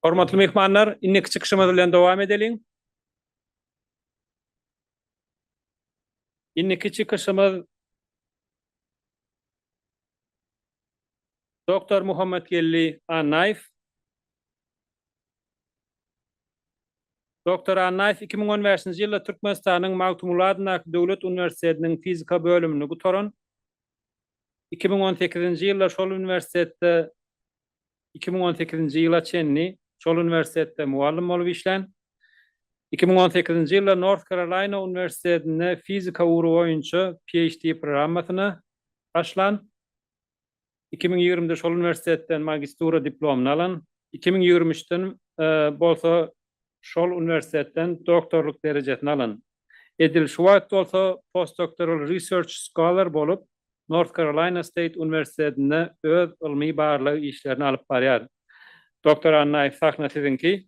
Hormatly myhmanlar, indiki çykyşymyz bilen dowam edeliň. Indiki çykyşymyz Doktor Muhammetgeldi Annaýew. Doktor Annaýew iki müň on bäşinji ýylda Türkmenistanyň Magtymguly adyndaky döwlet uniwersitetiniň fizika bölümini gutaran, iki müň on sekizinji ýylda şol uniwersitetde iki müň on sekizinji ýyla çenli şol uniwersitetde mugallym bolup işlän, iki müň on sekizinji ýylda North Karolaýna uniwersitetinde fizika ugry boýunça PHD programmasyna başlan. Iki müň ýigrimide şol uniwersitetden magistura diplomyny alan, iki müň ýigrimi üçden bolsa şol uniwersitetden doktorlyk derejesini alan. Edil şu wagt bolsa postdoktoral research scholar bolup, North Carolina State uniwersitetinde öz ylmy-barlag işlerini alyp barýar. Doktor Annaýew, sahna siziňki!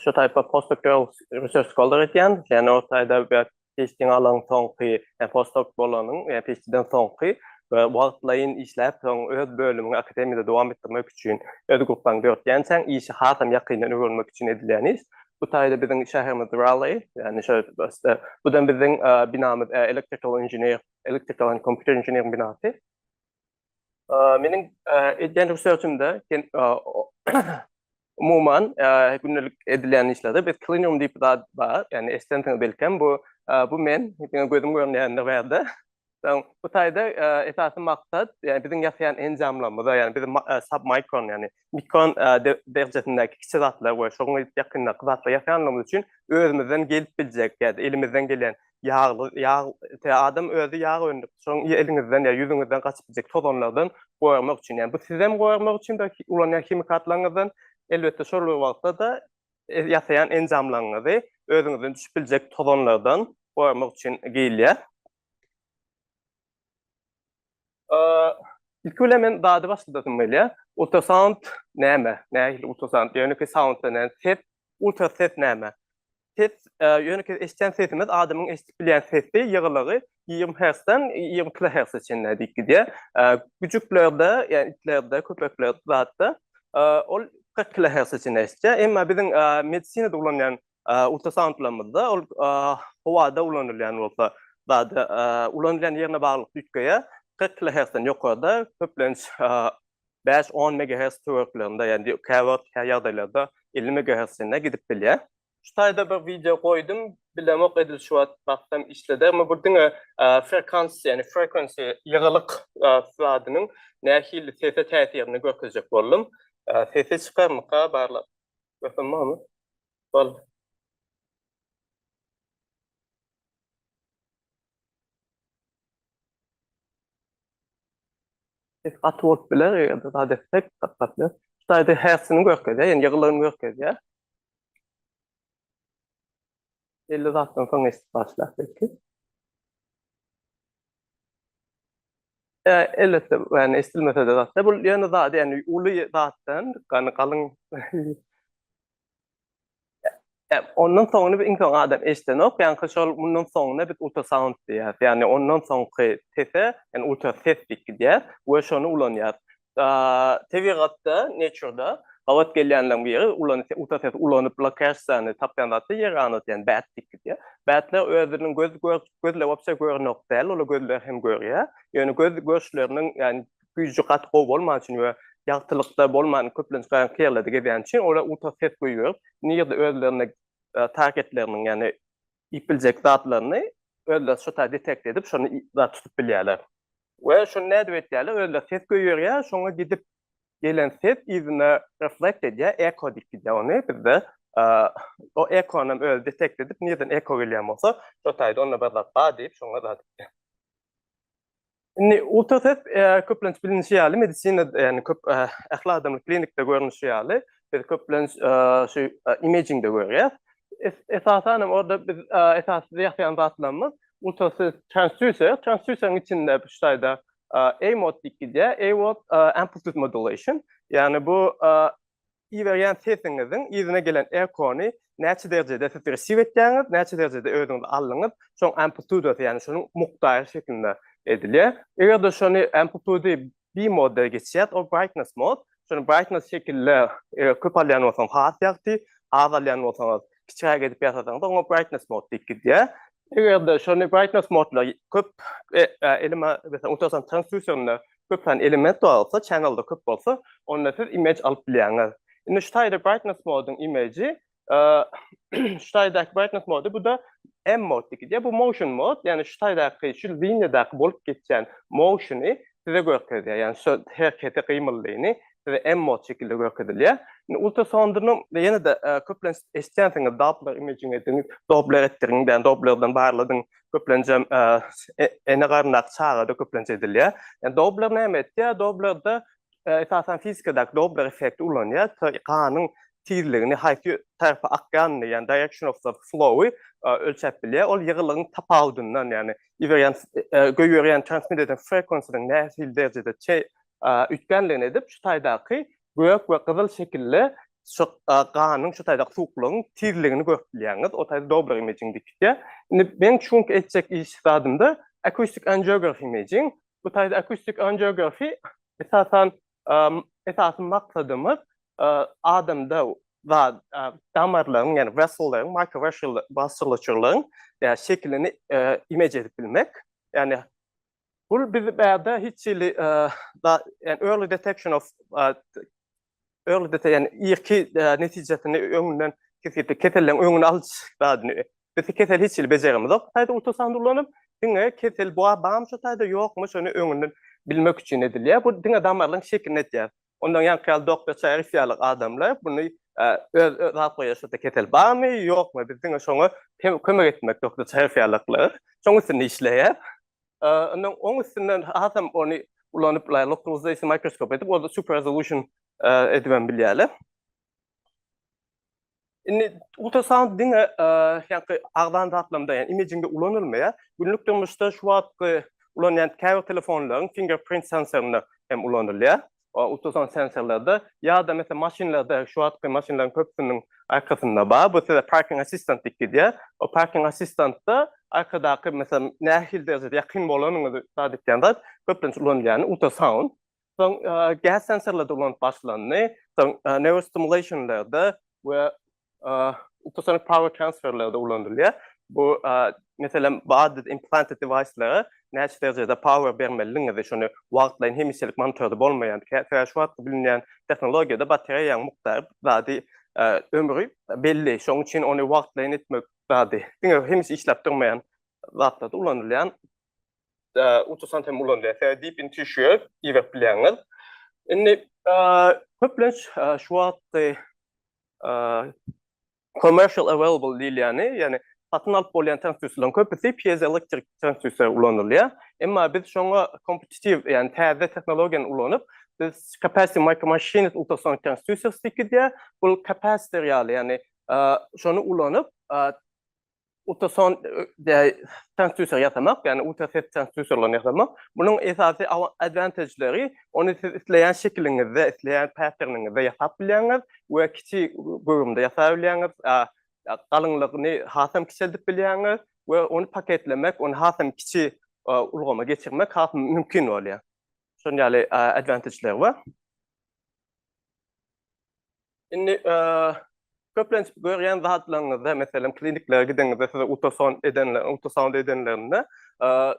Şu taýpa postok ýok, research scholar edýän, ýani o taýda bir PhD-ni alan soňky, ýa postok bolanyň, ýa PhD-den soňky we wagtlaýyn işläp, soň öz bölümiňi akademiýada dowam etdirmek üçin öz grupbaňy döretýänçäň, işi hasam ýakyndan öwrenmek üçin edilýän iş. Bu taýda biziň şäherimiz Raleigh, ýani şo bu da biziň binamyz, electrical engineer, electrical and computer engineering binasy. Meniň edýän researchimde umuman gündelik edilýän işlerde biz klinium diýip bir zat bar, ýagny eşidensiňiz belkem, bu bu men diňe gözüm gören ýerinde bärde. Soň bu taýda esasy maksat, ýagny biziň ýasaýan enjamlarymyza, ýagny biziň submikron, ýagny mikron derejesindäki kiçi zatlar we şonuň edip ýakyndaky zatlar ýasanlygymyz üçin özümizden gelip biljek ýa-da elimizden gelen ýagly ýag adam özi ýag öndürip şoň eliňizden ýa ýüzüňizden gaçyp biljek tozanlardan goramak üçin ýa bu sizem goramak üçin bir ulanýan himikatlaryňyzdan elbetde şol bir wagtda-da ýasaýan enjamlaryňyzy özüňizden düşüp biljek tozanlardan goramak üçin geýilýär. Ilki bilen men dady başladasym gelýär. Ultrasound näme? Nähili ultrasound? Ýönekeý sound bilen ses, ultra ses näme? Ses, ýönekeý eşitýän sesimiz adamyň eşidip bilýän sesi, ýygylygy ýigrimi hertzden ýigrimi kilohertze çenli diýip gidýär. Güjüklerde, ýagny itlerde, köpeklerde, zatda ol kyrk kilohertze çenli eşidýär. Emma biziň medisinada ulanýan Ultrasauntlamyzda ol howada ulanylýan bolsa zady ulanylýan ýerine baglylykda üýtgeýär. Kyrk kilohertzden ýokarda, köplenç bäş, on megahertz töwereklerinde, ýagny käwagt kä ýagdaýlarda elli megahertz çenli gidip bilýär. Şu taýda bir wideo goýdum, bilemok edil şu wagtam işledermi, bu diňe frekansiýa, ýagny frequency, ýygylyk zadynyň nähili sese täsirini görkezjek boldum. Sesi çykarmyka barlag? Mesela mama. Bal. Biz gaty bolup biler, eger de zat etsek, gaty gaty biler. Şaýda häsini görkezýär, ýygylygyny görkezýär. Belli zatdan soň eşidip başlap belki. E, elbetde, yani eşidilmese de zatda, bu yani zat, yani ulu zatdan, yani kalın, e, ondan sonra bir insan adam eşiden yok, yani şol bundan sonra bir ultra sound diýär. Yani ondan sonra tese, yani ultra ses diýip gidiyor, ve şonu ulanýar. Tebigatda, nature-da gabat gelýänleriň biri, uta ses ulanyp lokasyýany tapýan zat-da ýer ganat, ýagny bat diýip gidýär. Batlar özüniň göz göz lewapça görnok däl, olar gözler hem görýär. Ýöne göz görşleriniň, ýagny güýji gaty gowy bolman üçin we ýagtylykda bolman, köplenç garaňky ýerlerde gezýän üçin olar uta ses goýberip, nirede özlerine targetleriniň, ýagny iýip biljek zatlaryny özleri şu taýda detekte edip, şony zat tutup bilýärler. We şony nädip etýärler? Özleri ses goýberýär, şoňa gidip gelen ses yzyna reflekt edýär, eko diýip gidýär ony bizde. O ekony hem özi detekte edip, nireden eko gelýän bolsa, şo taýda onda bir zat bar diýip, şoňa zat edýär. Indi ultrases köplenç bilinişi ýaly medisinada, ýagny köp ähli adamly klinikde görnüşi ýaly, biz köplenç şu imagingde görýäs. Esasan hem orada biz esasy ýasaýan zatlarymyz ultrases transducer, transduceriň içinde şu taýda A-mode diýip gidýär, A-mode amplitude modulation, ýagny bu Iberýän sesiňiziň yzyna gelen ekony näçe derejede siz resiw etýäňiz, näçe derejede özüňiz aldyňyz, şoň amplitudasy, ýagny şonuň mukdary şeklinde edilýär. Eger-de şony amplitudy B moda geçýär, ol brightness mod. Şony brightness şekilde eger köp alýan bolsaňyz has ýagty, az alýan bolsaňyz kiçiräk edip ýasasaňyz, oňa brightness mode diýip gidýär. Eger-de şony brightness modla köp elime, meselem, unutasam transduserinde köp sany element bolsa, channel-da köp bolsa, onda siz image alyp bilýäňiz. Indi şu taýda brightness moduň image-i, şu taýdaky brightness mody, bu-da M mode diýip gidýär. Bu motion mode, ýagny şu taýdaky, şu liniýadaky bolup geçýän motion-y size görkezýär. Ýagny şu hereketi, gymyldyny size MMOD şekilde görkezilýär. Indi ultrasondyny ýene-de köplenç eşitýänsiňiz, Doppler imaging ediň, Doppler etdiriň, ýani Dopplerden barladyň, köplenjem ene garnyndaky çagada köplenç edilýär. Ýani Doppler näme etýär? Dopplerde esasan fizikadaky Doppler effekti ulanýar, ganyň tizligini, haýsy tarapa akýanyny, ýani direction of the flow-y ölçäp bilýär. Ol ýygylygyň tapawudyndan, ýani iberýän, göýberýän, transmit edýän frequency-niň nähili derejede üýtgänligini edip, şu taýdaky gök we gyzyl şekilli şu ganyň şu taýdaky suwuklygyň tizligini görüp bilýäňiz. O taýda Dobler Imaging diýip gitýär. Indi meň şu günki etjek iş zadymda Acoustic Angiography Imaging. Bu taýda Acoustic Angiography esasan esasy maksadymyz adamda damarlaryň, ýagny wessellaryň, microvessel vasculature-laryň şekilini image edip bilmek. Ýagny Bul biz bärde hiç hili da yani early detection of early detection yani irki netijesini öňünden kesgitli keselleň öňüni alyş zadyny biz kesel hiç hili bejerimiz yok. Taýda ultrasound ulanyp diňe kesel bu bam şu taýda ýokmy şony öňünden bilmek üçin edilýär. Bu diňe damarlaryň şekilini etýär. Ondan ýaňky ýaly Doktor Çaýeris ýaly adamlar muny öz alyp goýýar şoda kesel barmy ýokmy biz diňe şoňa kömek etmek Doktor Çaýeris ýalyklar şoň üstünde işleýär. Ondan oň üstünden hasam ony ulanyp bulaý lokalizasion mikroskop edip ol super resolution edibem bilýärler. Indi ultrasound diňe ýa-da agzany zatlamda, ýa-ni imagingde ulanylmaýar. Günlük durmuşda şu wagtky ulanýan käbir telefonlaryň fingerprint sensorynda hem ulanylýar. Ultrasound sensorlarda ýa-da meselem maşynlarda, şu wagtky maşynlaryň köpüsiniň arkasynda bar. Bu size parking assistant diýip gidýär. O parking assistantda arkadaky meselem nähili derejede ýakyn bolanyňyzy zat edýän zat köplenç ulanylýany ultrasound. Soň gäs sensorlary ulanyp başlandy. Soň neurostimulation-lerde we ultrasonic power transfer-lerde ulanylýar. Bu, meselem, body implanted device-lere näçe derejede power bermelidigiňizi, şony wagtlaýyn hemişelik monitorda bolmaýan, kä-kä şu atda bilinýän tehnologiýada batareýaň mukdary zady, ömri belli. Şonuň üçin ony wagtlaýyn etmek zady, diňe hemişe işläp durmaýan zatlarda ulanylýan utusant hem ulanylýar. Sebäbi deep in tissue iberip bilýäňiz. Indi köplenç şu wagtky commercial available diýilýäni, ýagny satyn alyp bolýan transduserleriň köpüsi piezoelektrik transduser ulanylýar. Emma biz şoňa kompetitiw, ýagny täze tehnologiýany ulanyp, biz capacitive micro machines ultrasonic transducers diýip gidýär. Bu kapasitor ýaly, ýagny şony ulanyp, ultrason transduser ýasamak, ýagny ultrases transduserlerini ýasamak. Munuň esasy advantageleri, ony siz isleýän şekiliňizde, isleýän patterniňizde ýasap bilýäňiz we kiçi göwrümde ýasap bilýäňiz, galyňlygyny hasam kiçeldip bilýäňiz we ony paketlemek, ony hasam kiçi ulgama geçirmek has mümkin bolýar. Şunuň ýaly advantageleri bar. Indi köplenç görýän zatlaryňyzda, meselem, kliniklere gideňizde size ultrason edenler, ultrasound edenlerinde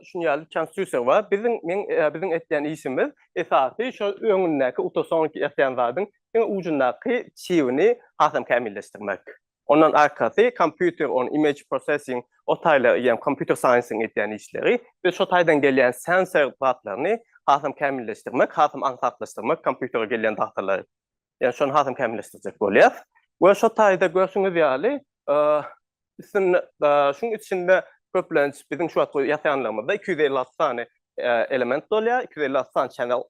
şuny ýaly transduser bar. Biziň men biziň etýän işimiz esasy şu öňündäki ultrason ýatan zadyň iň ujundaky çibini hasam kämilleşdirmek. Ondan arkasy kompýuter on image processing o taýla ýa kompýuter saýnsyň edýän işleri. Biz şo taýdan gelýän sensor zatlaryny hasam kämilleşdirmek, hasam aňsatlaşdyrmak kompýutere gelýän datalary. Ýa şony hasam kämilleşdirjek bolýar. We şo taýda görşüňiz ýaly üstünde şuň içinde köplenç biziň şu wagtky ýasaýanlarymyzda iki ýüz elli alty sany element bolýar, iki ýüz elli alty sany channel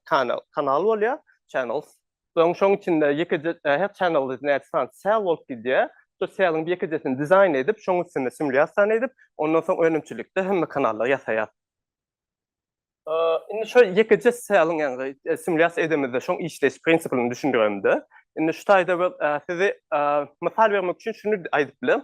kanal bolýar, channels. Öň şoň içinde ýekeje ähek çanagly näçe sany sel bolup gidýär. Şo seliň bir ýekejesini dizaýn edip, şoň üstünde simulýasiýany edip, ondan soň önümçilikde hemme kanallar ýasaýar. Indi şo ýekeje seliň, ýagny simulýasiýa edemizde şoň işleýiş prinsipini düşündiremde, indi şu taýda bir sizi mysal bermek üçin şuny aýdyp bilerin.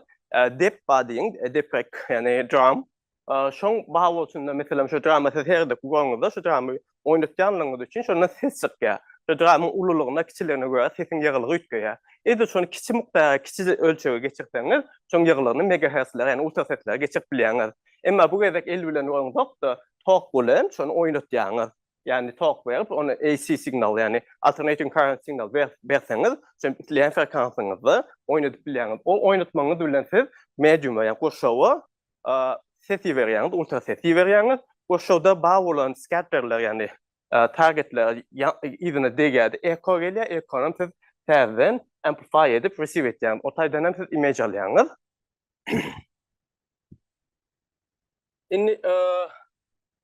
Depba diýiň, deprek, ýagny drum. Şoň bagy üçin-de, meselem, şu drama siz her gezek göreňizde, şu drama oýnatýanlygyňyz üçin şondan ses çykýar. Şu dramyň ululygyna, kiçiligine görä sesiň ýygylygy üýtgeýär. Edil şony kiçi mukdara, kiçi ölçege geçirseňiz, şoň ýygylygyny megaherslere, ýagny ultraseslere geçirip bilýäňiz. Emma bu gezek el bilen uraňzok-da, tok bilen şony oýnatýaňyz. Ýagny tok berip, ony AC signal, ýagny alternating current signal berseňiz, şeýdip isleýän frekansyňyzda oýnadyp bilýäňiz. Ol oýnatmagyňyz bilen siz mediuma, ýagny gurşawa ses iberýäňiz, ultra ses iberýäňiz we şoda bar bolan skatterler, ýagny targetler yzyna degýär, eko gelýär, ekony siz täzeden amplify edip receive etýäňiz. O taýdan hem siz image alýaňyz. Indi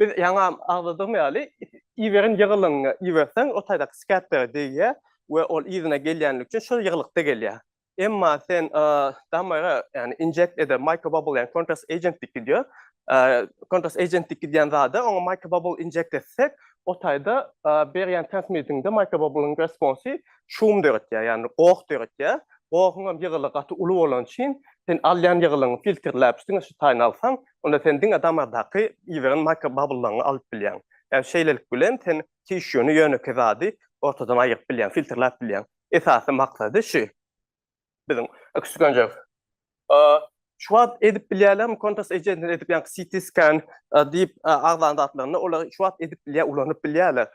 Biz ýaňam agzadygym ýaly, iberen ýygylygyňy iberseň, o taýdaky skeptere degýär we ol yzyna gelýänligi üçin şol ýygylykda gelýär. Emma sen damara, ýagny injekt eder, microbubble, ýagny kontrast agent diýip gidýär. Kontrast agent diýip gidýän zada oňa microbubble injekt etsek, o taýda berýän transmitiňde microbubble-yň responsy şum döretýär, ýagny goh döretýär. Gohuňam ýygylygy gaty uly bolany üçin, sen alýan ýygylygyňy filtrläp, üstüňe şu taýyny alsaň, onda sen diňe damardaky ýygyran mikrobabllaryňy alyp bilýäň. Ýagny şeýlelik bilen sen tişýuny, ýönekeý zady ortadan aýyryp bilýäň, filtrläp bilýäň. Esasy maksady şu biziň ekstrugionjyk. Şu wagt edip bilýärlermi kontrasty ejesini edip ýaňky CT scan diýip agzan zatlaryny olar şu wagt edip bilýär, ulanyp bilýärler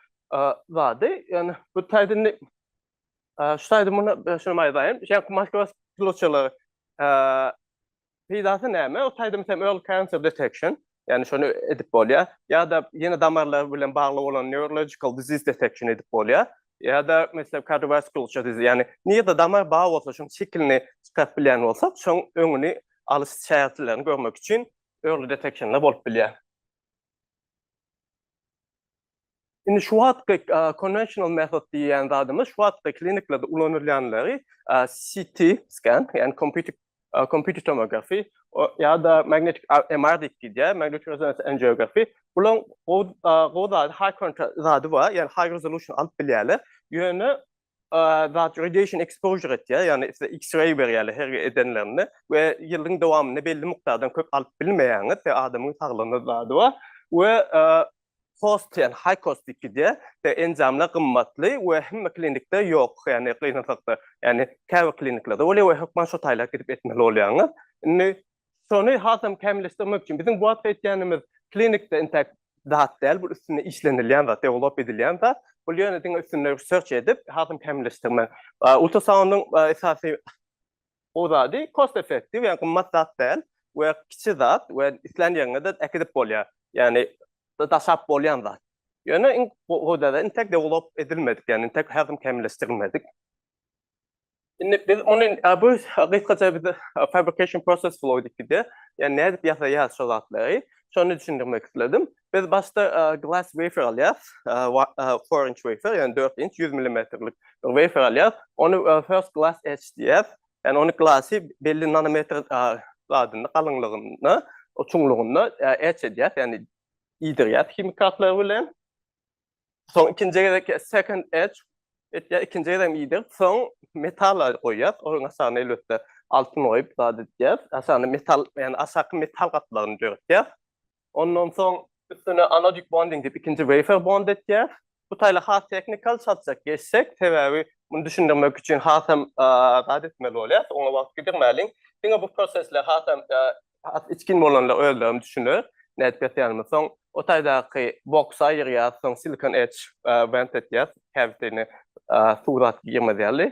zady. Ýagny bu taýda indi şu taýda muny şuny aýdaýyn. Şu ýaňky makroskopçylar Peýdasy näme? Ot aýdym sem early cancer detection, ýagny şony edip bolýar. Ýa-da ýene damarlar bilen bagly bolan neurological disease detection edip bolýar. Ýa-da meselem kardiowaskular disease, ýagny nirde damar bar bolsa şoň şekilini çykaryp bilýän bolsak, şoň öňüni alyş çärelerini görmek üçin early detection-lar bolup bilýär. Indi şu wagtky konwensional metod diýýän zadymyz şu wagtky kliniklerde ulanylýanlary CT scan, ýagny kompýuter kompýuter tomografi ýa-da magnetik MR diýip gidýär, magnetik rezonans angiografi. Bularyň gowy gowy zady high contrast zady bar, ýagny high resolution alyp bilýärler. Ýöne zat radiation exposure etýär, ýagny size X-ray berýärler her edenlerinde we ýylyň dowamynda belli mukdardan köp alyp bilmeýäňiz, sebäbi adamyň saglygyna zady bar we cost diýen high cost diýip gidýär, sebäbi enjamlar gymmatly we hemme klinikde ýok, ýagny gynansak-da, ýagny käbir kliniklerde bolýar we hökman şo taýlap gidip etmeli bolýaňyz. Indi şony hasam kämilleşdirmek üçin biziň bu wagtky etýänimiz klinikde intäk zat däl, bu üstünde işlenilýän zat, dewlop edilýän zat. Bu ýöne diňe üstünde search edip, hasam kämilleşdirmek. Ultrasoundyň esasy gowy zady cost effective, ýagny gymmat zat däl we kiçi zat we islän ýeriňe-de äkidip bolýar. Ýagny daşap bolýan zat. Ýöne iň gowy zat, intäk dewlop edilmedik, ýagny intäk hasam kämilleşdirilmedik. Indi biz muny bu gysgaça biz fabrication process flow diýipdi. Ýani nädip ýasaýarys şo zatlary? Şony düşündirmek isledim. Biz başda glass wafer alýarys. Four inch wafer, ýani dört inç, ýüz milimetrlik bir wafer alýarys. Ony first glass etch diýýäs. Ýani ony glasy belli nanometr zadynda, galyňlygynda, çuňlugynda etch edýäs, ýani iýdirýäs himikatlar bilen. Soň ikinji gezek second edge etýär, ikinji gezek iýdir. Soň metal goýýar, onuň aşagyna elbetde altyn goýup zat etýär. Aşagyna metal, ýani aşaky metal gatlagyny döretýär. Ondan soň üstüne anodik bonding diýip ikinji wafer bond etýär. Bu taýly has teknikal çatjak geçsek, sebäbi muny düşündirmek üçin has hem zat etmeli bolýar, oňa wagt gidirmäliň. Diňe bu prosesler has hem Has içgin bolanda özlerim düşüner. Nädip ýatýanymy soň o taýdaky boksa aýyrýas, soň silikon etch went etýäs, käbitini suw zat girmez ýaly.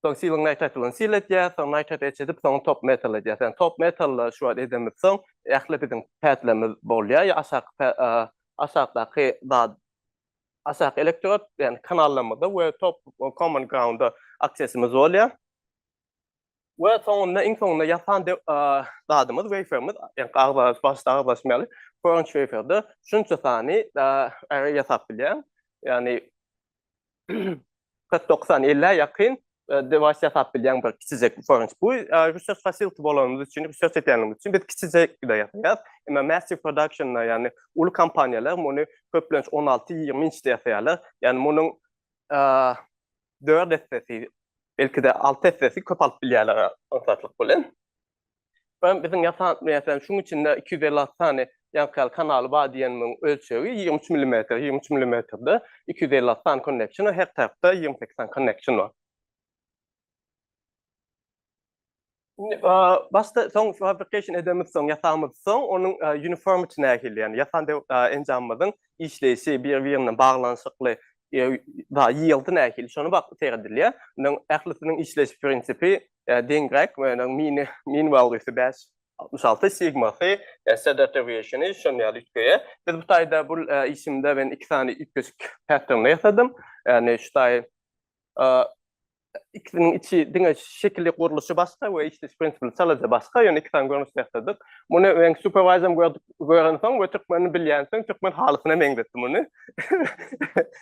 Soň siling nitrat bilen sil etýäs, soň nitrat etch edip, soň top metal edýäs. Ýani top metally şu wagt edemizden soň ähli biziň pätlerimiz bolýar, ýa aşaky aşakdaky zat aşaky elektrod, ýani kanallarymyzda we top common ground-a aksesimiz bolýar. We soňunda iň soňunda ýasan zadymyz weýferimiz, ýa agzar başda agzaşmaly, French weýferde şunça sany äre ýasap bilýär. Ýagny kyrk dokuz sany elli ýakyn dewaýs ýasap bilýär bir kiçijek French. Bu research facility bolanymyz üçin, research edýänimiz üçin biz kiçijekde ýasaýar. Emma massive production-da ýagny uly kompaniýalar muny köplenç on alty, ýigrimi inçde ýasaýarlar. Ýagny munuň dört essesi, belki-de alty essesi köp alyp bilýärler aňsatlyk bilen. Ýöne biziň ýasan, meselem, şunuň içinde iki ýüz elli alty sany ýaňky kanaly bar diýenimiň ölçegi ýigrimi üç millimetr. Ýigrimi üç millimetrde iki ýüz elli alty sany konneksiýon, her tarapda ýigrimi sekiz sany konneksiýon bar. Başda soň fabrication edemiz soň ýasamyz soň onuň uniformity nähili ýani ýasan enjamymyzyň işleýşi bir birinden baglanyşykly ýyýldy nähili şony bak seredilýär munuň ählisiniň işleýiş prinsipi deňräk munuň mini min wallysy bäş altmyş alty sigmasy sdtwşini şon ýaly üýtgeýär biz bu taýda bul işimde men iki sany üýtgeşik patternda ýasadym ýani şu taý ikisiniň içi diňe şekili gurluşy başga we işleş prinsipi çalaja başga, ýöne iki sany görnüş ýasadyk. Muny men superwizem gören soň we türkmeni bilýän soň türkmen halysyna meňzetdi muny.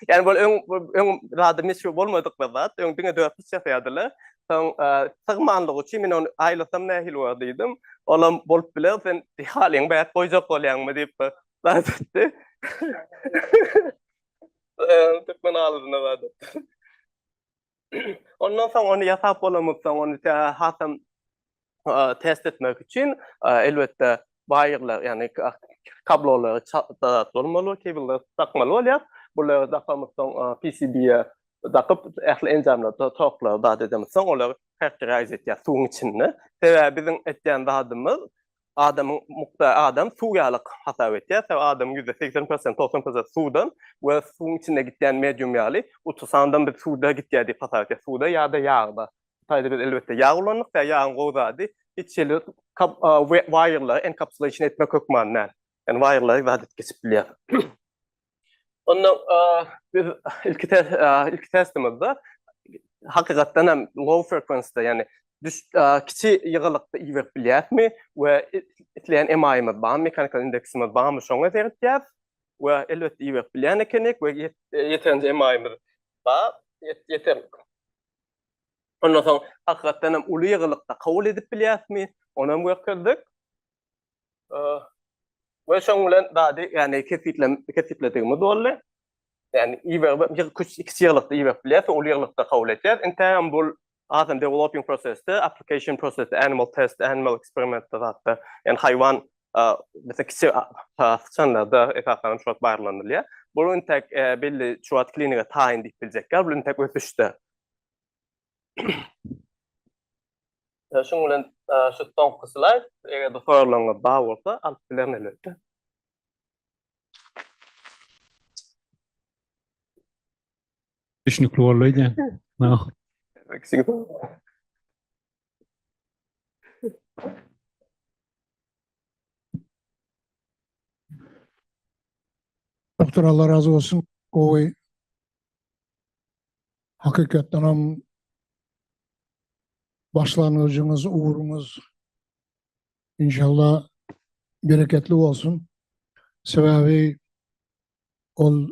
Ýani bu öň öň zady meşhur bolmadyk bir zat, öň diňe dörtüş ýasaýardylar. Soň sygmanlyk üçin men ony aýlasam nähili bolar diýdim. Olam bolup biler, sen halyň bäş goýjak bolýaňmy diýip bir zat etdi. Türkmen halysyna zat etdi. Ondan soň ony ýasap bolamypdan ony hasam test etmek üçin elbetde baýyrlar, ýagny kablolary çatdarak bolmaly, kabelleri dakmaly bolýar. Bulary dakamypdan PCB-ä dakyp, ähli enjamlary, toklary zat edemizsoň, olar characterize etýär suwuň içinde. Sebäbi biziň etýän zadymyz Adamyň mukdary adam suw ýaly hasap etýär. Sebäbi adamyň ýüzde segsen prosenti, togsan prosenti suwdan we suwuň içinde gidýän medium ýaly. Uty sandam biz suwda gidýär diýip hasap etýäs. Suwda ýa-da ýagda. Bu taýda biz elbetde ýag ulandyk. Sebäbi ýagyň gowy zady hiç hili waýerleri enkapsulation etmek hökmany däl. Ýagny waýerleri zat edip geçip bilýär. Onda biz ilki test ilki testimizde hakykatdan hem low frequency yani kiçi ýygylykda iberip bilýärmi we isleýän emaýymyz barmy, mekanikal indeksimiz barmy şoňa seretýär we elbetde iberip bilýän ekenik we ýeterinje emaýymyz bar, ýeter. Ondan soň hakykatdan hem uly ýygylykda kabul edip bilýärismi, onam görkezdik. Ve şoň bilen dady, yani kesitlem, kesitledigimiz boldy. Yani iberip, bir küç, iki ýyglykda iberip bilýäs, ol ýyglykda kabul etýär. Intäm bul azam developing prosesde, application process, animal test, animal experiment da zatda, yani hayvan, mesela kiçi sıçanlarda esasanam şuwat barlanylýar. Bul intäk belli şuwat klinige taýyn diýip biljekler, bul intäk ösüşde. Şuň bilen şu soňky slaýd, eger-de soraglanyňyz bar bolsa, alyp bilerin elbetde. Düşnükli boldy öýdýän. Doktor Allah razı olsun. Gowy Hakykatdan hem başlangyjyňyz, ugruňyz inşallah bereketli bolsun. Sebäbi ol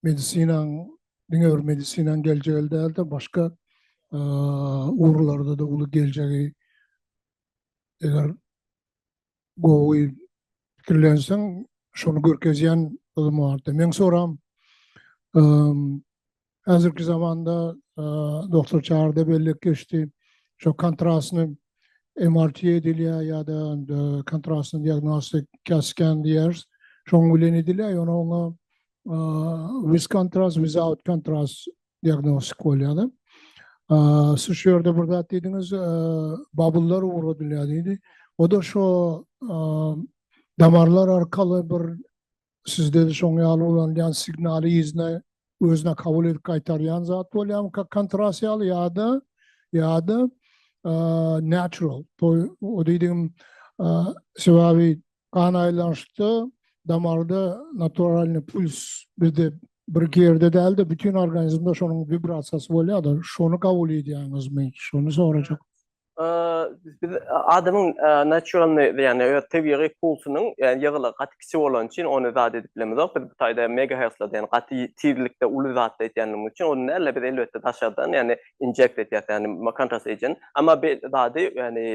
medisinaň diňe bir medisinaň geljegi däl-de, başga ugurlarda da uly geljegi eger gowy pikirlenseň, şony görkezýän ylym bardy. Meň soram, häzirki zamanda Doktor Çary-da belläp geçdi, şo kontrastny MRT edilýär ýa-da kontrastny diagnostik CAT-scan diýýäris, şoň bilen edilýär, ýöne oňa with kontrast, without kontrast diagnostik bolýar. Siz şu ýerde bir zat diýdiňiz, babullar ugradylýar diýdi. O-da şo damarlar arkaly bir siz de şoň ýaly ulanylýan signaly yzyna özüne kabul edip gaýtarýan zat bolýarmyka kontras ýaly ýa-da ýa-da natural. O diýdigim sebäbi Gan aýlanyşda damarda naturalny puls bizde bir gerde dälde bütün organizmde şonuň vibrasiýasy bolýada şony kabul edýäňizmi şony sorajak. Biz adamyň naturalny ýagny öz tebigy pulsunyň ýagny ýygylygy gaty kiçi bolany üçin ony zat edip bilemizok biz bu taýda megahertzda diýen gaty tizlikde uly zatda etýändigimiz üçin ony näle biz elbetde daşardan ýagny injekt edýäs ýagny kontrast agent emma bir zady ýagny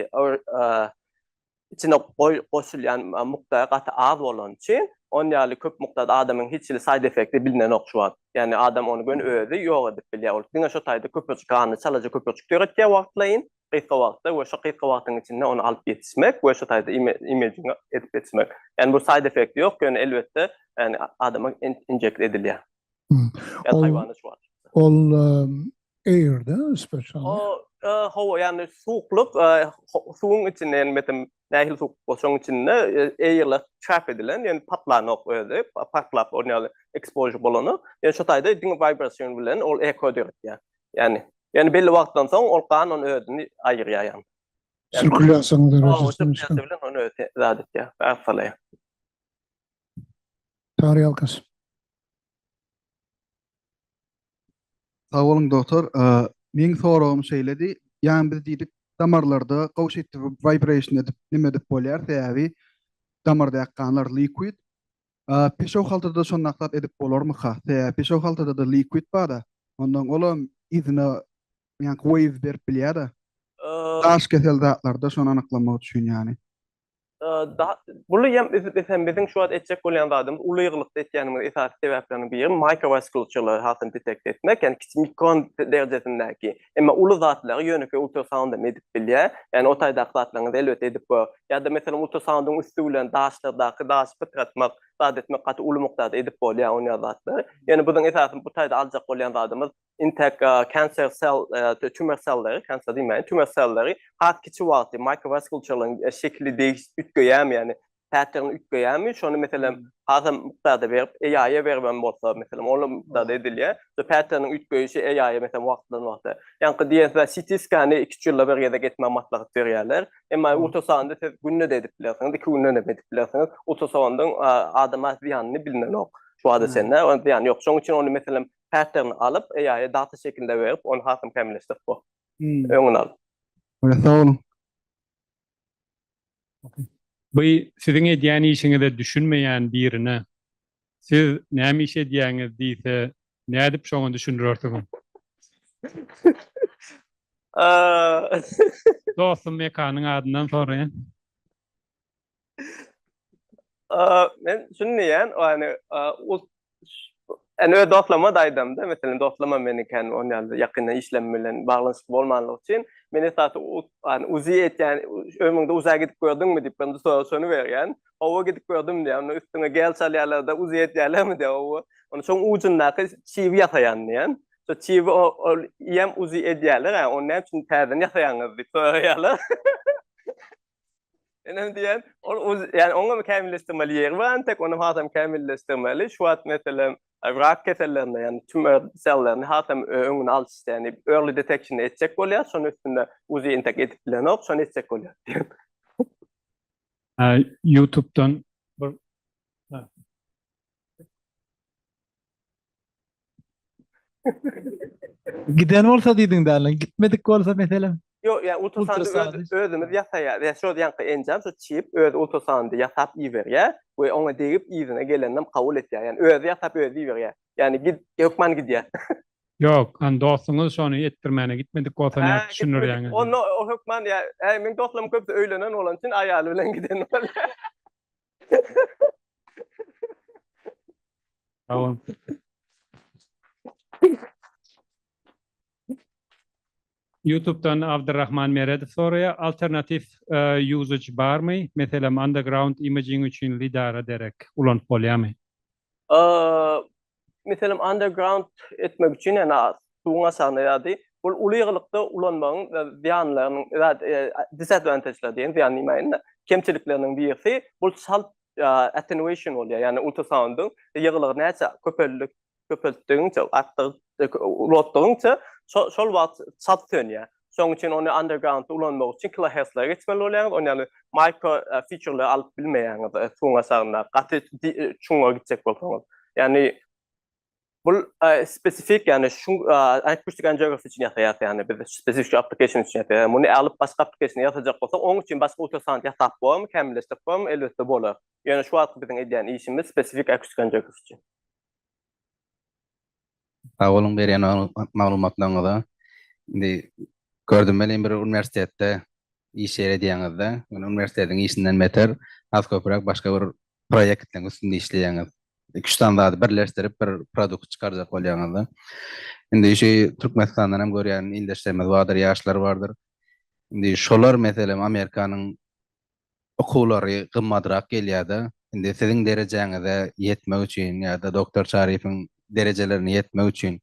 içine goý goşulýan mukdary gaty az bolany üçin, on ýaly köp mukdarda adamyň hiç hili side effekti bilinenok şu wagt. Ýagny adam ony göni özi ýok edip bilýär. Ol diňe şo taýda köpürjik ganly çalaja köpürjik döretýär wagtlaýyn, gysga wagtda we şo gysga wagtyň içinde ony alyp ýetişmek we şo taýda imaging edip ýetişmek. Ýagny bu side effekti ýok, ýöne elbetde ýagny adama injekt edilýär. Ol eýerde spesial. O howa ýany suwuklyk, suwuň içinde ýani metem nähili suwuk bolsaň içinde eýerle çap edilen, ýani patlanok özi, patlap ol ýaly ekspožu bolany. Ýani şo taýda diňe wibrasion bilen ol eko döretýär. Ýani, ýani belli wagtdan soň ol gan ony özüni aýyrýar ýani. Sirkulýasiýa derejesi. Sirkulýasiýa bilen ony özi zat etýär, arfalaýar. Çagry alkyş. Sag boluň dogtor. Meň soragym şeýledi. Ýani biz diýdik damarlarda gowşut vibration edip neme edip bolýar sebäbi damardaky ganlar liquid. Peşew haltada şondaklap edip bolarmyka? Sebäbi peşew haltadada liquid barda. Ondan olam yzyna ýaňky wave berip bilýärda. Daş kesel zatlarda şony anyklamak üçin ýani. Buly hem bizem biziň şu wagt etjek bolýan zadymyz uly ýygylykda etýänimiz esasy sebäpleriniň biri mikrowaskulaturalary hasam detekte etmek, ýagny kiçi mikron derejesindäki, emma uly zatlary ýönekeý ultrasound hem edip bilýär. Ýagny o taýdaky zatlaryňyzy elbetde edip gör. Ýa-da meselem ultrasoundyň üsti bilen daşlardaky daşy pytratmak, zat etmek gaty uly mukdarda edip bolýar onýa zatlar. Ýöne biziň esasy bu taýda aljak bolýan zadymyz Intek cancer cell tümör selleri, cancer diýmäýin, tümör selleri has kiçi wagty mikrowaskulturlaryň şekili degişip üýtgeýärmi, ýagny pattern üýtgeýärmi, şony meselem hasam mukdarda berip AI-a beribem bolsa, meselem olam mukdarda edilýär. Şu patterniň üýtgeýşi AI-a meselem wagtdan wagta. Ýaňky diýen CT skany iki-üç ýylda bir gezek etmäge maslahat berýärler. Emma ultrasondy siz günde-de edip bilersiňiz, iki günden hem edip bilersiňiz. Ultrasondyň adama zyýanyny bilinenok şu wagta çenli, zyýany ýok. Şonuň üçin ony meselem Häsirini alyp, eýaýy data şekilinde berip, ony hasam kämilleşdirip bor. Öňüni alyp. Okey, sag boluň. Bu siziň edýän işiňize düşünmeýän birine siz näme iş edýäňiz diýse nädip şoňa düşündirersiňiz? Dostum Mekanyň adyndan soraýan. Men düşünmeýän, ýani öz dostlaryma da aýdamda, meselem, dostlarymam meniň kän on ýaly ýakynda işlem bilen baglanyşykly bolmanlygy üçin, men esasy ýani uzi etýän, ömrüňde uza gidip gördüňmi diýip, men soraşyny berýän. Hawa, gidip gördüm diýýär. Onda üstüňe gel salýarlar-da, uzi etýärlermi diýýär. Hawa, onda şoň ujundaky çibi ýasaýan diýýän. Şo çibi ol ýem uzi edýärler, ony näme üçin täzeden ýasaýaňyz diýip soraýarlar. Enem diýen, ol uz, ýani oňam kämilleşdirmeli ýeri bar, tek ony hasam kämilleşdirmeli. Şu wagt meselem rak kesellerinde, ýani tümör sellaryny hasam öňüni alyş ýani early detection etjek bolýar. Şonuň üstünde uzi entek edip bilenok, şony etjek bolýar diýen. Ýa ýutubdan bir Giden bolsa diýdiň däli. Gitmedik bolsa meselem. Ýok, ýa ultrasandy özümiz ýasaýar. Ýa şol ýanky enjam şu çip öz ultrasandy ýasap iberýär we oňa degip yzyna geleninem kabul etýär. Ýani özi ýasap özi iberýär. Ýani git hökman gidýär. Ýok, hany dostuňyz şony etdirmäne gitmedik bolsa nädip düşündirýäňiz? Onda o hökman ýa, äý meň dostlarym köpüsi öýlenen bolan üçin aýaly bilen giden bolýar. Tamam. YouTube'dan Abdurrahman Meredow soraýar, alternatiw e, usage barmy? Meselem, underground imaging üçin lidara derek ulanyp bolýarmy? Meselem, underground etmek üçin ýa-da suwuň aşagyna ýa-da ol uly ýygylykda ulanmagyň zyýanlarynyň, disadvantage-ler diýen, zyýan diýmäýin-de, kemçilikleriniň birisi, bul çalt attenuation bolýar, ýagny ultrasoundyň ýygylygy näçe köpeltdigiňçe, artdygyňça, ulaltdygyňça, şol wagt çalt sönýär. Şonuň üçin ony underground-da ulanmak üçin kiloheslara geçmeli bolýaňyz. Ony ýaly mikro fiçurlary alyp bilmeýäňiz suwuň aşagynda, gaty çuňňa gitjek bolsaňyz. Ýagny bu spesifik, ýagny şu Acoustic Angiography üçin ýasaýarys, ýagny biz spesifik şu application üçin ýasaýarys. Muny alyp başga application ýasajak bolsak, onuň üçin başga ultrasound ýasap bolarmy, kämilleşdirip bolarmy? Elbetde bolar. Ýöne şu wagtky biziň edýän işimiz spesifik Acoustic Angiography üçin. Sag boluň berýän maglumatlaryňyza. Indi gördüm welin bir uniwersitetde iş ýeri edýäňiz-de, ýöne uniwersitetiň işinden beter has köpräk başga bir proýektiň üstünde işleýäňiz. Iki-üç sany zady birleşdirip bir produkt çykarjak bolýaňyz-da. Indi şu Türkmenistandan hem görýän ildeşlerimiz bardyr, ýaşlar bardyr. Indi şolar meselem Amerikanyň okuwlary gymmadrak gelýärdi. Indi siziň derejäňize ýetmek üçin ýa-da doktor Çaryýewiň derejelerine ýetmek üçin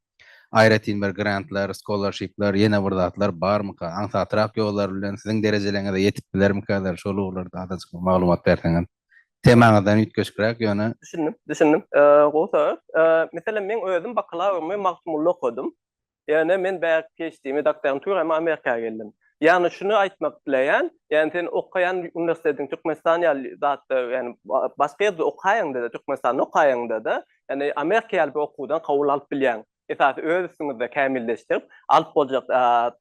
aýratyn bir grantlar, skolarşipler, ýene bir zatlar barmyka? Aňsatrak ýollar bilen siziň derejeleriňize ýetip bilermikäler? Şol ugurlarda azajyk bir maglumat berseňiz. Temaňyzdan üýtgeşikräk ýöne. Düşündim, düşündim. Gowy sorag. Meselem, men özüm bakalawrymy Magtymgulda okadym. Ýöne men bärik PHD-mi dakdagym tüwr hem Amerika geldim. Ýagny şuny aýtmak dileýän, ýagny sen okaýan uniwersitetiň Türkmenistan ýaly zatda ýagny başga ýerde okaýaňda-da Türkmenistanda okaýaňda-da ýagny Amerika ýaly bir okuwdan kabul alyp bilýäň. Esasy öz üstüňizde kämilleşdirip alyp boljak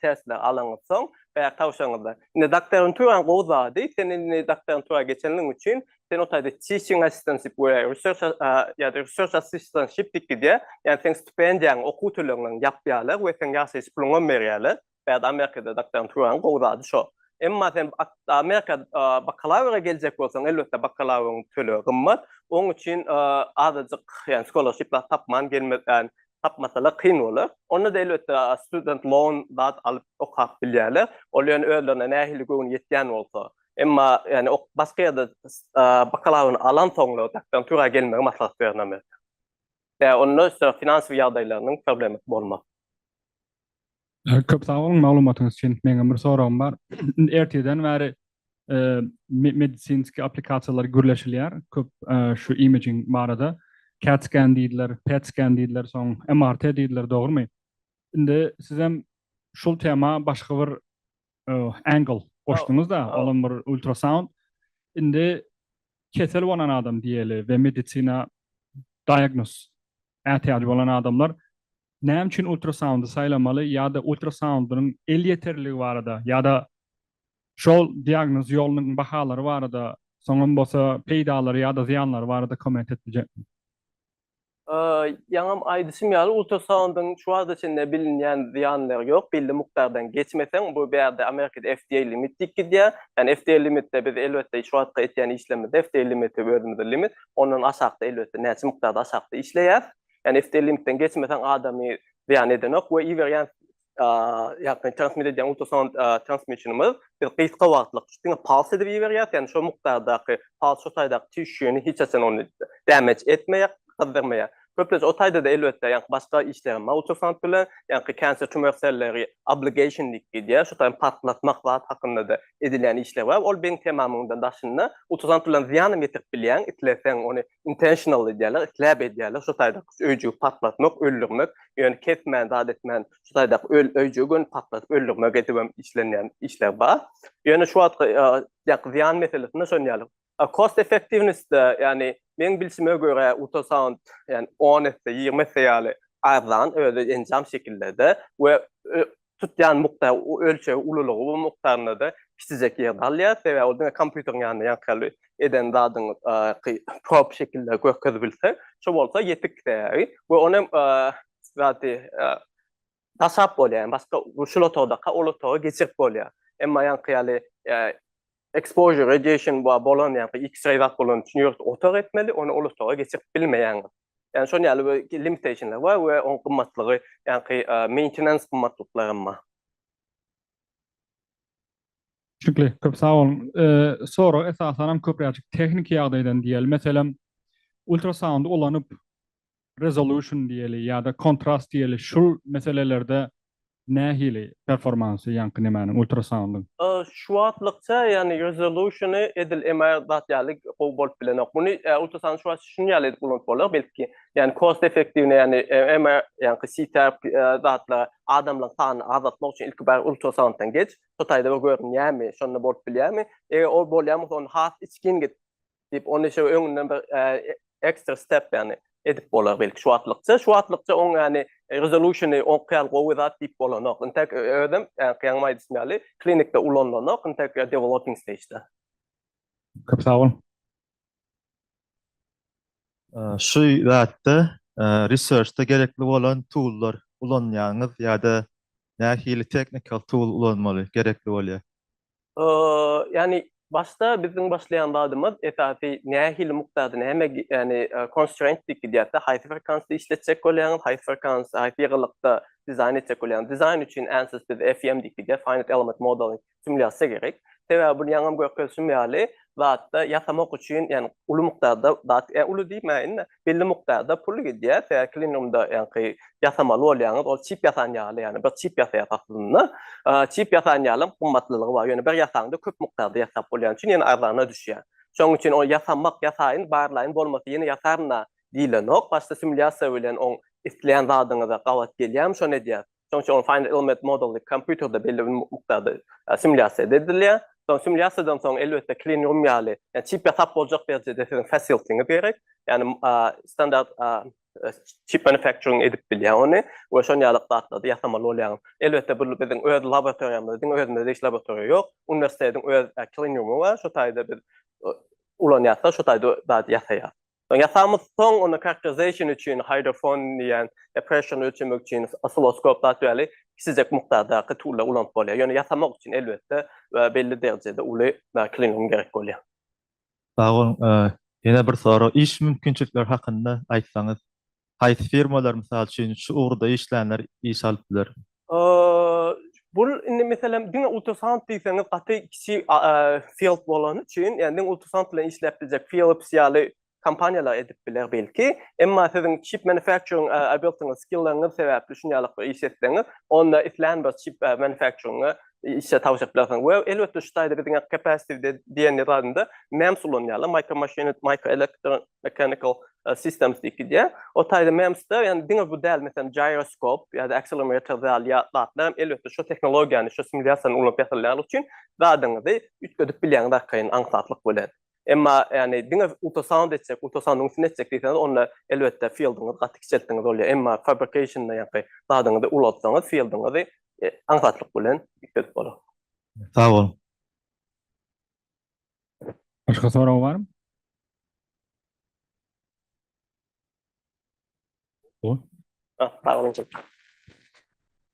testleri alaňyz soň bärik tabşyryňyzda. Indi dakdagyň tüwr hem gowy zady, sen indi dakdagyň tüwr geçenligiň üçin sen otaýda teaching assistantship we research ýa-da research assistantship diýip gidýär. Ýagny seň stipendiýaň, okuw tölegňiň ýapýarlar we seň ýaşaýyş puluňam berýärler. Bärde Amerikada doktoranturaň gowy zady şo. Emma sen Amerika bakalawra geljek bolsaň, elbetde bakalawryň tölegi gymmat. Oň üçin azajyk, ýagny scholarship-lar tapman gelmez, ýagny tapmasalar kyn bolar. Onda-da elbetde student loan zat alyp okap bilýärler. Ol ýöne özlerine nähili göwni ýetýän bolsa. Emma ýani ok basga ýerde bakalawryny alan soňra doktorantura gelmegi maslahat berýän Amerika. Ýa onda şo finansiýa ýagdaýlarynyň problemi bolma. Köp sag boluň maglumatyňyz üçin. Meňem bir soragym bar. Ertirden bäri medisinski aplikasiýalar gürleşilýär. Köp şu imaging barada. Cat scan diýdiler, pet scan diýdiler, soň MRT diýdiler, dogrumy? Indi sizem şul tema başga bir Angle goşduňyzda olam bir ultrasound indi kesel bolan adam diýeli we medisina diagnoz ätiýajy bolan adamlar näme üçin ultrasoundy saýlamaly ýa-da ultrasoundynyň elýeterligi barada ýa-da şol diagnoz ýolunyň bahalary barada soňam bolsa peýdalary ýa-da zyýanlary barada komment et biljekmi? Ýaňam aýdyşym ýaly, ultrasoundyň şu wagta çenli bilinýän zyýanlary ýok. Belli mukdardan geçmeseň, bu bärde Amerikada FDA limit diýip gidýär. Ýani FDA limitde biz elbetde şu wagtky etýän işlerimizde FDA limiti özümizde limit. Ondan aşakda elbetde näçe mukdarda aşakda işleýäs. Ýani FDA limitden geçmeseň adamy zyýan edenok we iberýän ýagny transmit edýän ultrasound transmiçenimiz biz gysga wagtlyk diňe pals edip iberýär, ýagny şol mukdardaky pals şo taýdaky tişýuny hiç haçan ony damage etmeýär, gyzdyrmaýar. Köplenç o taýda-da elbetde ýagny başga işler hem bar ultrasound bilen, ýagny cancer tumor selleri ablation diýip gidýär, şo taýda partlatmak zat hakynda-da edilýän işler bar, ol beýni temamyňdan daşynda ultrasound bilen zyýan hem ýetirip bilýäň, isleseň ony intentional edýärler, isläp edýärler, şu taýda öýjügi patlatmak, öldürmek, ýöne kesmän, zat etmän, şu taýda öl öýjügi göni patlatyp öldürmek edip hem işlenýän işler bar. Ýöne şu wagtky ýaky zyýan meselesinde şon ýaly. Cost effectiveness-de, ýagny meň bilşime görä ultrasound, ýagny 10 esse, 20 esse ýaly arzan özi enjam şekilde-de we tutýan mukda ölçeg ululygy bu mukdarynda-da kiçijek ýer galýar, sebäbi ol diňe kompýuteriň ýanynda ýaňky eden zadyňy prop şekilde görkezip bilse, şu bolsa ýetik sebäbi we ony zady daşap bolýar, ýagny başga şul otagdaka ol otaga geçirip bolýar. Emma ýaňky ýaly Exposure radiation bar bolan ýa-da X-ray zat bolan üçin ýurt otag etmeli, ony ol otaga geçirip bilmeýäňiz. Ýagny şonuň ýaly bir limitationlar bar we onuň gymmatlygy, ýagny maintenance gymmatlyklary hem bar. Çüňkli, köp sag boluň. Sorag esasanam köpräçik tehniki ýagdaýdan diýeli. Meselem, ultrasound ulanyp, resolution diýeli ýa-da kontrast diýeli şul meselelerde nähili performansy ýaňky nemäniň ultrasoundyň? Şu wagtlykça ýagny resolution-y edil MR zat ýaly gowy bolup bilenok. Muny ultrasoundy şu wagt şun ýaly edip ulanyp bolar belki. Ýagny cost effektiwine ýagny MR ýaňky CT zatlara adamlaryň sanyny azaltmak üçin ilki bari ultrasounddan geç. Şo taýda bir görünýärmi, şonda bolup bilýärmi. Eger ol bolýan bolsa ony has içgin git. diýip, ony şeýle öňünden bir ekstra step ýagny edip bolar belki şu wagtlykça. Şu wagtlykça oň ýagny resolution-y onkyýal gowy zat diýip bolanok. Intek özem ýaňy aýdyşym ýaly klinikde ulanylanok, intek developing stage-da. Köp sag boluň. Şu zatda research-da gerekli bolan tool-lar ulanýaňyz ýa-da nähili technical tool ulanmaly gerekli bolýar? ýagny başda biziň başlaýan zadymyz esasy nähili mukdady näme ýagny constraint diýip gidýärdi haýsy frekansda işletjek bolýaňyz haýsy frekans haýsy ýygylykda dizaýn etjek bolýaňyz dizaýn üçin ansys biz FEM diýip gidýär finite element modeling simulýasiýa gerek sebäbi bu ýaňam görkezişim ýaly zatda ýasamak üçin ýagny uly mukdarda zat uly diýmäýin-de belli mukdarda pul gidýär, sebäbi klinigumda ýaňky ýasamaly bolýaňyz, ol çip ýasan ýaly, ýagny bir çip ýasaýas aslynda. Çip ýasan ýaly hem gymmatlylygy bar, ýöne bir ýasaňda köp mukdarda ýasap bolýany üçin ýene arzana düşýär. Şonuň üçin ol ýasamak, ýasaýyn, barlaýyn, bolmasa ýene ýasaryn-a diýilenok. Başda simulýasiýa bilen oň isleýän zadyňyza gabat gelýärmi, şony edýäris. Şonuň üçin ol Final Element Model-ly kompýuterde belli bir mukdarda simulýasiýa edilýär. Soň simulýasiýadan soň elbetde clean room ýaly, ýa çip ýasap boljak derejede siziň facility-ňiz gerek. Ýagny standart çip manufacturing edip bilýär ony we şon ýaly zatlary ýasamaly bolýaňyz. Elbetde bu biziň öz laboratoriýamyz, diňe özümizde hiç laboratoriýa ýok. Uniwersitetiň öz clean room-y bar, şo taýda biz ulanýarys-da, şo taýda zady ýasaýarys. Soň ýasamyz, soň ony characterization üçin hydrofon diýen pressure ölçemek üçin oscilloscope zat ýaly kiçijek mukdardaky tullary ulanyp bolýar. Ýöne ýasamak üçin elbetde belli derejede uly klinum gerek bolýar. Sag boluň. Ýene bir sorag, iş mümkinçilikleri hakynda aýtsaňyz. Haýsy firmalar, mysal üçin, şu ugurda işlänler iş alyp biler? Bul indi meselem diňe ultrasaunt diýseňiz gaty kiçi field bolany üçin, ýagny diňe ultrasaunt bilen işläp biljek Philips ýaly kompaniýalar edip biler belki. Emma siziň çip manufakturing abiltiňiz, skilliňiz sebäpli şuny ýalykda iş etseňiz, onda islän bir çip manufakturinga işe tabşyryp bilersiň. We elbetde şu taýda biziň capacitive diýen zadynda MEMS ulanýarlar, micro machine, micro electro mechanical systems diýip gidýär. O taýda MEMS-de ýani diňe bu däl meselem gyroskop ýa-da accelerometer däl ýa zatlar hem elbetde şu tehnologiýany, şu simulýasiýany ulanyp ýasalýanlygy üçin zadyňyzy üýtgedip bilýäňiz arkaýyn aňsatlyk bilen. Emma ýagny diňe ultrasound etjek, ultrasoundyň üstüne etjek diýseňiz, onda elbetde fieldiňizi gaty kiçeltdiňiz bolýar. Emma fabrication ýaňky zadyňyzy ulaltsaňyz, fieldiňizi aňsatlyk bilen ýükledip bolar. Sag boluň. Başga soragy barmy? Sag boluň.